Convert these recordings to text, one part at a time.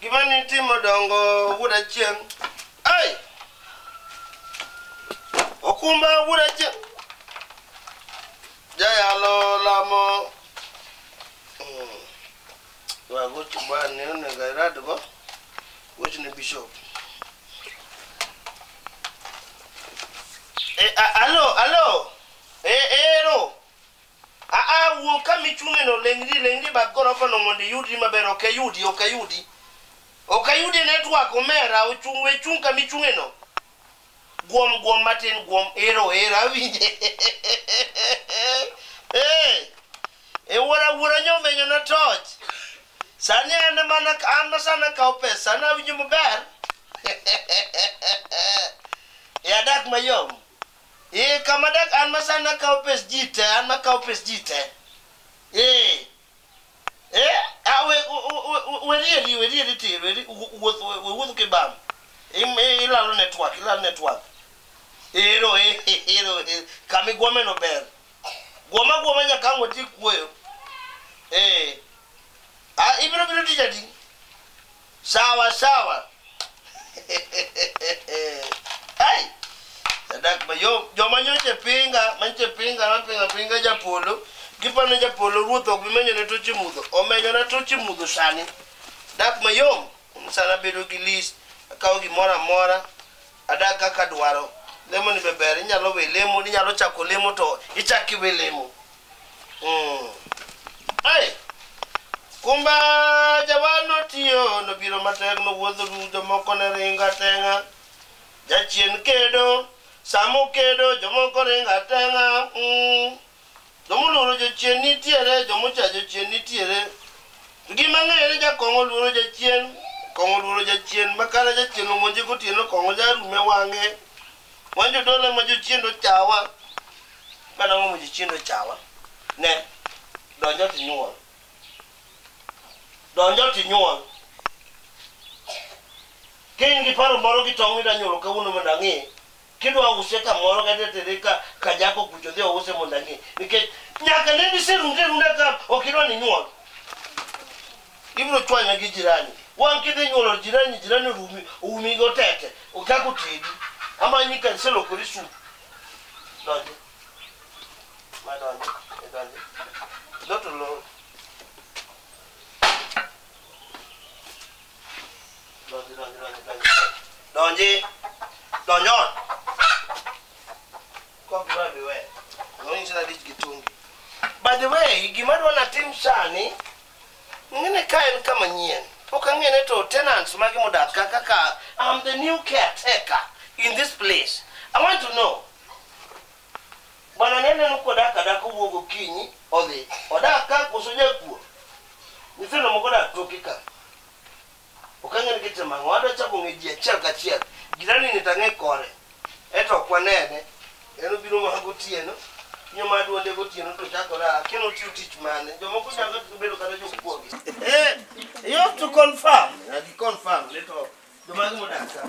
Gima nitimo dongo wuod achieng'. Ai! Okumba wuod achieng'. Jayalo lamo. Mm. Wagoch bani onego iradgo. Goch ne bishop. Eh, a- alo, alo. Eh, eh, ero. Aa, wuo kama ichung'eno, leng'ri, leng'ri bath gorofono mondo iyudri maber. Ok ayudi, ok ayudi. Ok ayudi e network, omera. Ochung', we chung' kama ichung'eno. Guom, guom matin, guom. Ero, ero, awinje. Eh, e wuora, wuora nyomenyo na toch. Sani an ema na- an ma sani akawo pesa, sani awinjo maber. E adak mayom. Ee, kama dak an ma sani akawo pes ji te, an ma kawo pes ji te. Ee. Ee, a we u- u- u- u- werieri, werieri tir, weri u- wuoth we we wuoth kibam. Im- i- Ilalo network, ilalo network. Ero, e- e- ero, e- kama igwome no ber. Gwoma gwoma nyaka ang' wati kuoyo. Ee. Ah, ibiro biro tich adi? sawa sawa ai sadak mayom joma nyoche pinga manyoche pinga mapinga pinga japolo gipano japolo ruoth ok bimenyone toche mudho omenyona toche mudho sani dak mayom sana bedo gi list akawo gimoro amora adak kaka dwaro lemo ni be ber inyalo we lemo inyalo chako lemo to ichak iwe lemo Mm. Ai. Kumba jawan notiyo nobiro matek nowuotho du jomoko ne ringa tenga jachien kedo samo kedo jomoko ringa tenga mm. jomoluoro jochien nitiere jomocha jochien nitiere to gima ng'eyo ni jakong'o oluoro jachien kong'o oluoro jachien makara jachien omonje gotieno kong'o jarume wang'e wanjo dole ma jochien ochawa Mana ang'o moji chiendo chawa? Ne, donjo tinyuol. Donjo tinyuol. Kiny gi paro moro gi tong' mida nyuolo kawuono mondo ang'e. Kidwa use kamoro kata tere ka ka jako kucho dhi ouse mondo ang'e. Nikech nyaka ne diserunde runda ka ok idwa ni nyuol. Ibiro chwanya gi jirani. Wang' kidhi nyuolo jirani, jirani orumi, oumi gi otete. Ochako tedi. Amanyi ka iselokori sup. Donjo. Ma donjo. E donjo. Go to load. Donjo, donjo, donjo, donjo. Donji. Donjo. Kwa kwa biwe. Ngoni chana dich gitungi. By the way, gima dwa natim sani, Ngene ka en kama nyien. Pok ang'ene to tenants mage modak ka kaka I'm the new caretaker in this place. I want to know. Bwana nene no kodak adak owuok okinyi odhi. Odak ka koso jakuo. Nyithindo moko odak toki ka. Ok ang'e ni gitimo ang'o. Adwa chako ng'e ji achiel kachiel. Jirani ni to ang'e kore. Eto ok wanene. En obiro mana gotieno. Nyo ma duonde gotieno to chakore a. Akia ni otiyo tich mane. Jomoko nyalo bedo kata jokuoge. Eh, you have to confirm. Na gi confirm ni to jomage modak ka.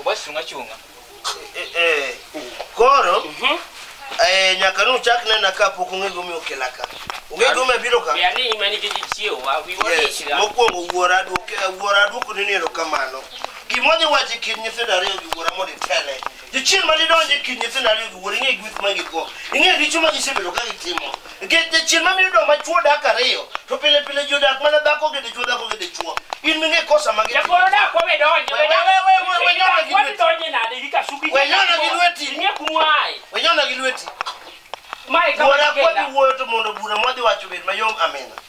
Oba chunga chunga. Eh, eh, koro Mhm. eh, nyaka nuchak nena ka pok ung'e gimomiyo okela ka ung'e gimomiyo abiro ka Yani imani kiji chiew wa wi wa Yes, chira. mokwongo wuora adwoke- wuora adwokoni ni erokamano gimodhi wacho e kind nyithindo ariyo gi wuora mondo itele Jachien ma didonj e kind nyithindo ariyo gi wuoro ing'e gweth ma gikwo. Ing'e richo ma gisebedo ka gitimo. Nikech jachien ma miyo dong' ma chwo dak ariyo to pile pile ji odak mana dhako gi dichwo dhako gi dichwo. In ming'e kosa ma gitimo. Jakoro dak wawe donje. We- we- we- we- we- we nyona gi Wami lweti. donje nade gi kasubi. We nyona gi lweti. Ing'e kumwae. We nyona gi lweti. Mae kama Wuora kwa gikenda. giwuoyo to mondo bura mwadhi wacho obed mayom amina.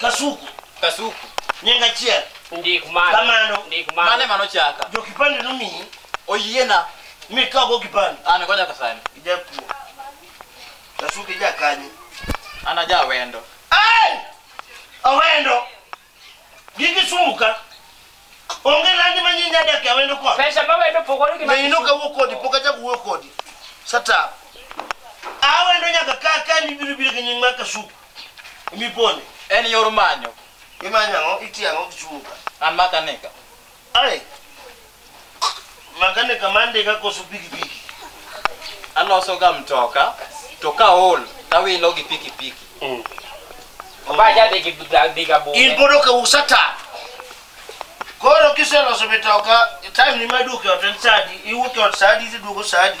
Kasuku. Kasuku. Nying achiel. Ndik mane. Kamano. Ndik mane. Mane mano chaka. Jo kipande nomiyi. Oyiena. Mi ka go kipande. An go nyaka sani. Ijapuo. Kasuku ija kanyi. An aja wendo. Ai! Awendo. Gigi sumuka. Onge landi ma nyinyi adak e awendo kod. Pesa ma wendo pogore gi ma Ne inoka wuo kodi pok achak wuo kodi. Sata. Awendo nyaka ka ka ni biro biro gi nying mar kasuku. Mi pone. En yor manyo. Imanyo ang'o? Itiyo ang'o gi chunga? An maka nika. Ai. Makanika mande ka koso pikipiki. Aloso ga mtoka to ka ol tawilo gi pikipiki. Mm. Obaja dhi gi dhi ga bunge. In bodo ka usata. Koro kiseloso mitoka, time ni maduke otel sadi, iwuke ot sadi, iduogo sadi.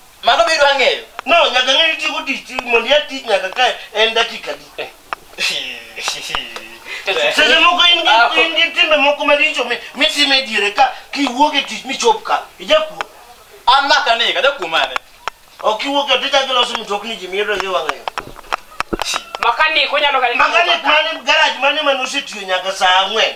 Mano be idwa ng'eyo? No, nyaka ng'e tieko tich ti- mondo iya tich nyaka ka en dakika di. Seche moko in Ah, gi in gi timbe moko maricho mi- mitimo e diere ka kiwuok e tich michop ka. Ijakuo. An maka ni kada kuom mane? Ok iwuok e tich akiloso mtokni ji miyudo gi wang'ayo. Makanik onyalo kata Makanik mane garaj mane mane osetiyo nyaka saa ang'wen.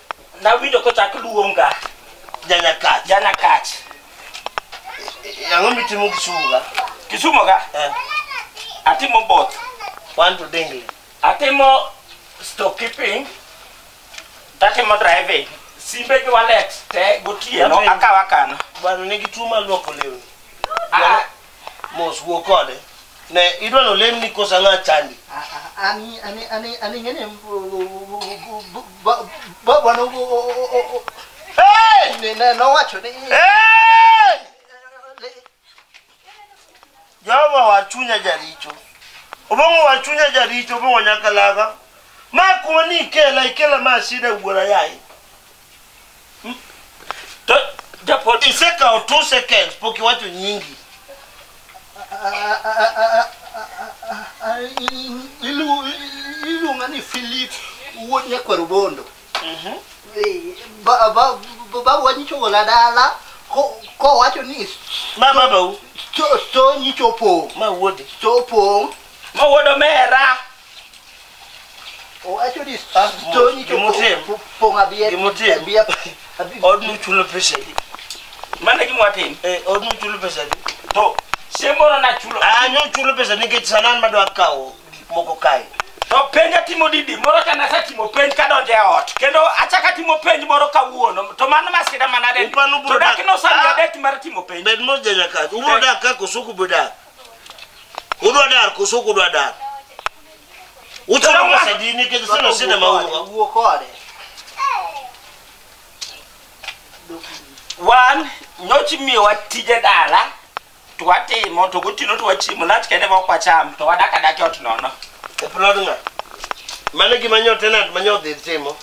Nawinjo kochak luonga Janyakach. Janyakach. Ang'o mitimo Kisumu ka? Kisumu ka? Eh. Atimo both. One to Dingley. Atimo stock keeping. Atimo driving. Simbe gi wallet te gotieno akawa kana. Bwana nigi tuo mar luoko lewni. Ah, mos wuo kode ne idwa no lemni kosa ng'a chandi ani ani ani ani ngene baba no hey ne no wacho ni hey Jehova wa chunya jaricho obong'o wa chunya jaricho obong'o nyakalaga ma kuma ni ikela ikela ma asida wuora yaye To japod Isekawo two seconds pok iwacho nyingi. Iluonga ni Philip wuod nyakwaro bondo. Babu wanyicho gola dala ko- kowacho ni Ma babau, sto- sto nyicho opong'. ma wuodi. Sto opong'. Ma wuod omera. Owacho ni Ah, stoni to gimotim. po- pong' abie- Gimotim. abie- abie- odni uchulo pesa adi Mano e gima watim. Eh, odni uchulo pesa adi To chieng' moro nachulo. Ah, nyo uchulo pesa nikech sanan madwa kawo gik moko kae To penj atimo didi moro ka nasetimo penj kadonjo e ot. Kendo achako atimo penj moro kawuono. To mano masira manade. Upano To ubrodak- dak nosami Ah. adek mar timo penj. bed mos janyakazi ubrodak ka koso ok ubrodak Udwa dar koso kudwa dar. Uchulo pesa di nikech sino sina maua. Wuo kode. Wan nyochi miyowa tije dala to watimo to gotieno to wachiemo lach kende ma ok wacham to wadak adak e ot nono. E plod ng'a? Mano e gima nyo tenant ma nyo dhi timo.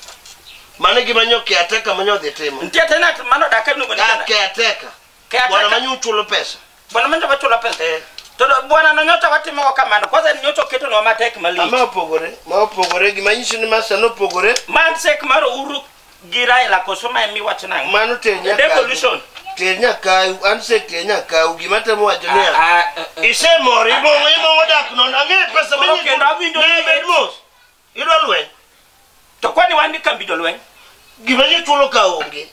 Mano e gima nyo caretaker ma nyo dhi timo. Nitie tenant mano dak e miluongo ni Ah, tenant. caretaker. Kata Bwana ka- manyo uchulo pesa. Bwana manyo wachulo pesa. Eh. To do- bwana no nyocha watimo kamano. Kwanza ni nyocha oketonwa matek Ama malich. opogore, ma opogore gima nyiso ni masta nopogore, Man sek mar Uhuru gi Raila koso ma emi wach nang'o? mano ter nyakawu. Devolution. Ter nyakawu, an se ter nyakawu gima temo wacho niya. Ah, ah, eh, Isemor, imongo imongo dak non, ang'e pesa Koro kendo awinjo ni- Idwa lweny. To kwani wan gi kambi jolweny? Gima ji chulo ka onge.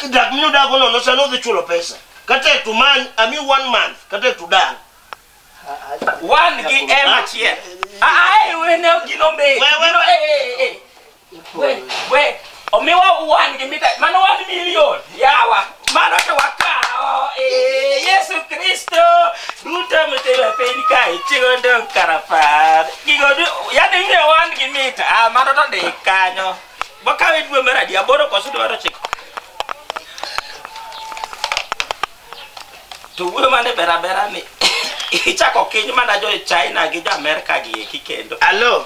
Dak minu dago nono sa nodhi chulo pesa. Kata to man, I mean one month, kata to dan. Wan gi ema chiel. Ah, eh, wene gino mbe. Wewe. Gino, eh, eh, eh. We, we, omiwa wan gi mita, mano wan milion, yawa, mano to wakawo, ee, Yesu Kristo, duto mitimo e piny kae, chigo dong' karapar, gigo du, yani ing'e wan gi mita, ah, mano to ndik kanyo, wakawe dwe mar adi, aboro koso dwe mar ochiko? To wuoyo mane berabera ni, ichako kiny mana jo China gi jo Amerka gi eki kendo. Alo.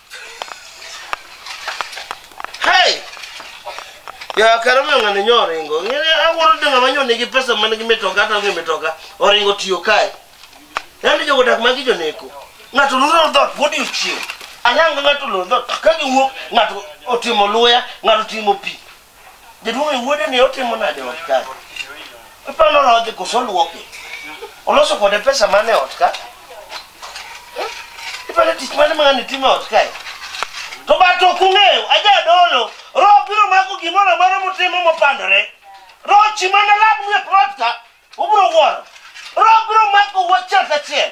Hey! Ya kara ma ng'ani nyo oringo. Ng'ani awuoro ni ng'ama nyo nigi pesa man gi mitoka to onge mitoka. Oringo tiyo kae. Yaani jogo dak magi joneko. Ng'ato luro dhot pod ochiew. Anang' ng'ato luro dhot. Ka giwuok ng'ato otimo luya, ng'ato otimo pi. Jaduong' e wuode ni otimo nade ot kae? Iparo norodhi koso oluoke? Oloso kode pesa mane ot ka? Eh? Iparo tich mane ma ng'ani timo ot kae? To bat ok ung'eyo, ajadolo, roho biro mako gimoro amora mutimo mopandore. Roho chi mana lab nie plot ka, ubiro wuoro. Roho biro mako wachiel kachiel.